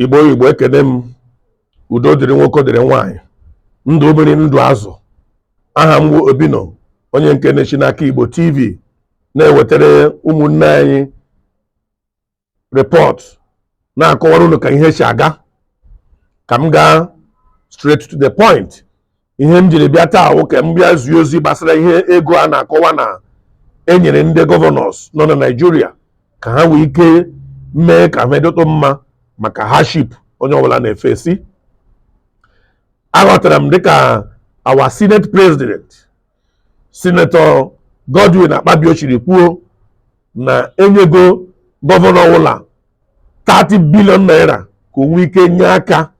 igbo igbo ekene m udo dịrị nwoke dịrị nwaanyị ndụ mmiri ndụ azụ aha m wụ obino onye nke na-esi n'aka igbo tv na-ewetara ụmụnne anyị report na-akọwara unu ka ihe si aga ka m gaa straight to the point ihe m jiri bịa taa wụ ka m bịa zie ozi gbasara ihe ego a na-akọwa na enyere ndị gọvanọs nọ na naijiria ka ha nwee ike mee ka ihe dịtụ mma maka hardship onye ọbụla na-efesi aghọtara m dịka our senate president senator godwin akpabio siri kwuo na enyego gọvanọ ọbụla 30 billion naira ka o nwee ike nye aka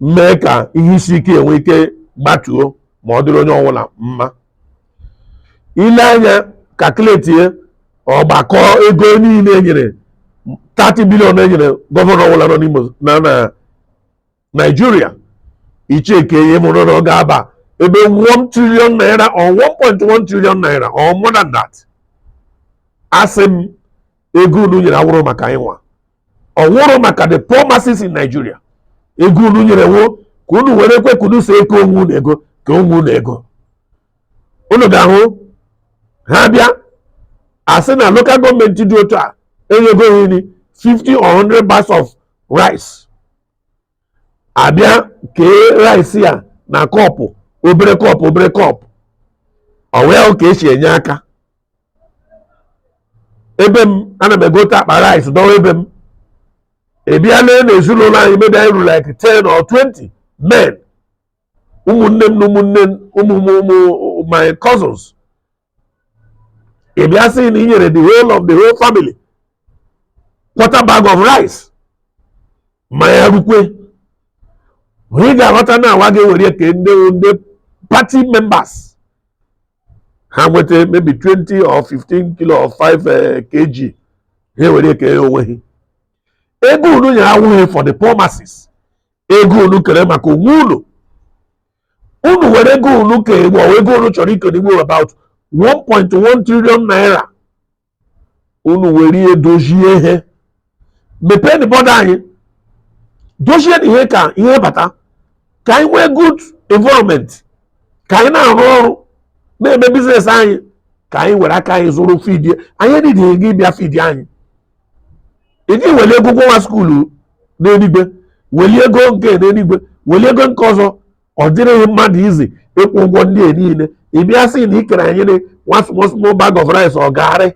mee ka ihe isi ike enwe ike gbatuo ma ọ dịrị onye ọbụla mma ile anya kalkuletie ọgbakọ ego niile enyere 30 billion enyere gọvanọ ọbụla nọ n'ime na na Naịjirịa i cheekie ị mara na ọ ga-aba ebe 1 trillion naira or 1.1 trillion naira or more than that asị m ego unu nyere awụrụ maka anyịnwa ọ wụrụ maka the poor masses in Nigeria ego unu nyere wụ ka unu were kwuo ka unu si eke onwe unu ego kee onwe unu ego unu ga-ahụ ha bịa asị na local gọọmenti dị otu a enyego ha nri 50 or 100 bags of rice abịa kee rice ya na kọpụ obere kọpụ obere kọpụ ọ wee hụ ka esi enye aka ebe m ana m egote akpa rice dọwa ebe m abịa lee na ezinụlọ anyị maybe anyị ruru like 10 or 20 men ụmụnne m na ụmụnne m- ụmụ ụmụ ụmụ my cousins ị bịa sị na i nyere the whole of the whole family quarter bag of rice ma ya rukwe ma ị ga-aghọta na hanwa ga-ewere kee ndị ndị party members ha nweta maybe 20 or 15 kilo or 5 eh, kg ha ewere kee onwe ha ego unu nyere awụghị for the poor masses ego unu kere maka onwe unu unu were ego unu kere ego unu chọrọ ike n'igbo about 1.1 trillion naira unu were ihe dozie ihe mepeenụ bọda anyị dozienụ ihe ka ihe bata ka anyị nwee good environment ka anyị na-arụ ọrụ na-eme business anyị ka anyị were aka anyị zụrụ fidie anyị enidighị gị ịbịa fidi anyị iji weli ego nwa skuulu n'eluigwe weli ego nke n'eluigwe weli ego nke ọzọ ọ dịrịghị mmadụ easy ịkwụ ụgwọ ndị a niile ị bịa sị na ikere anyị nwa small small bag of rice or garri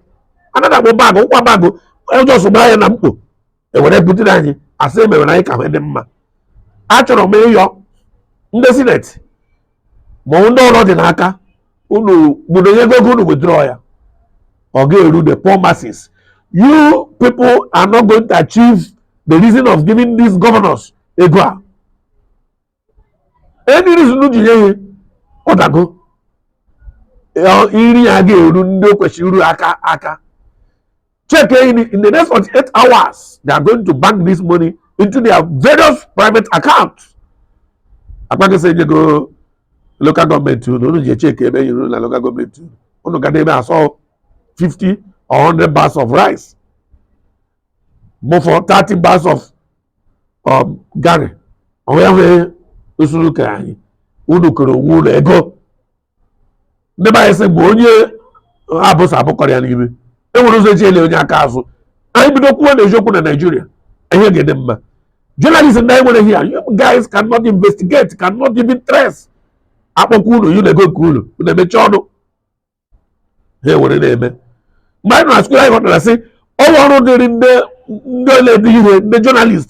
anaghị akpọ bag ọ wụkwa bag just gbara ya na mkpo ewere butere anyị asị emewere anyị ka ihe dị mma achọrọ m ịyọ ndị sineti ma ndị ụlọ dị n'aka unu bụrụ na enyego ego unu withdraw ya ọ ga-eru the poor masses you people are not going to achieve the reason of giving these governors ego a and the reason ji nye ihe ọ dago iri ya ga-eru ndị o kwesịrị iru aka aka check in, in the next 48 hours they are going to bank this money into their various private accounts akpakịsị enyego local gọọmenti unu unu ji echeki ebe enyere unu na local gọọmenti unu unu ga na-eme asọ 50 or 100 bags of rice bụ for 30 bags of um, garri onwe ya nwee usoro ka anyị unu kere onwe unu ego ndị be anyị sị mgbe onye abụsa abụkọrọ ya n'ime enwere ụzọ eji ele onye aka azụ anyị bido kwuo na eziokwu na naijiria ihe ga-adị mma journalist ndị anyị nwere here you guys cannot investigate cannot even trace akpọkwa unu nye unu ego nke unu unu emechie ọnụ ha ewere na-eme mgbe anyị nọ na skuul anyị ghọtara sị ọrụ ọrụ dịrị ndị ndị ole ndị ihe ndị journalist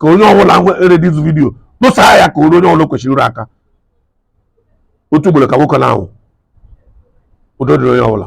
ka onye ọbụla nwere this video tụsaa ya ka o ru onye ọbụla kwesịrị iru aka otu ugboro ka nwoke na-anwụ udo dịrị onye ọbụla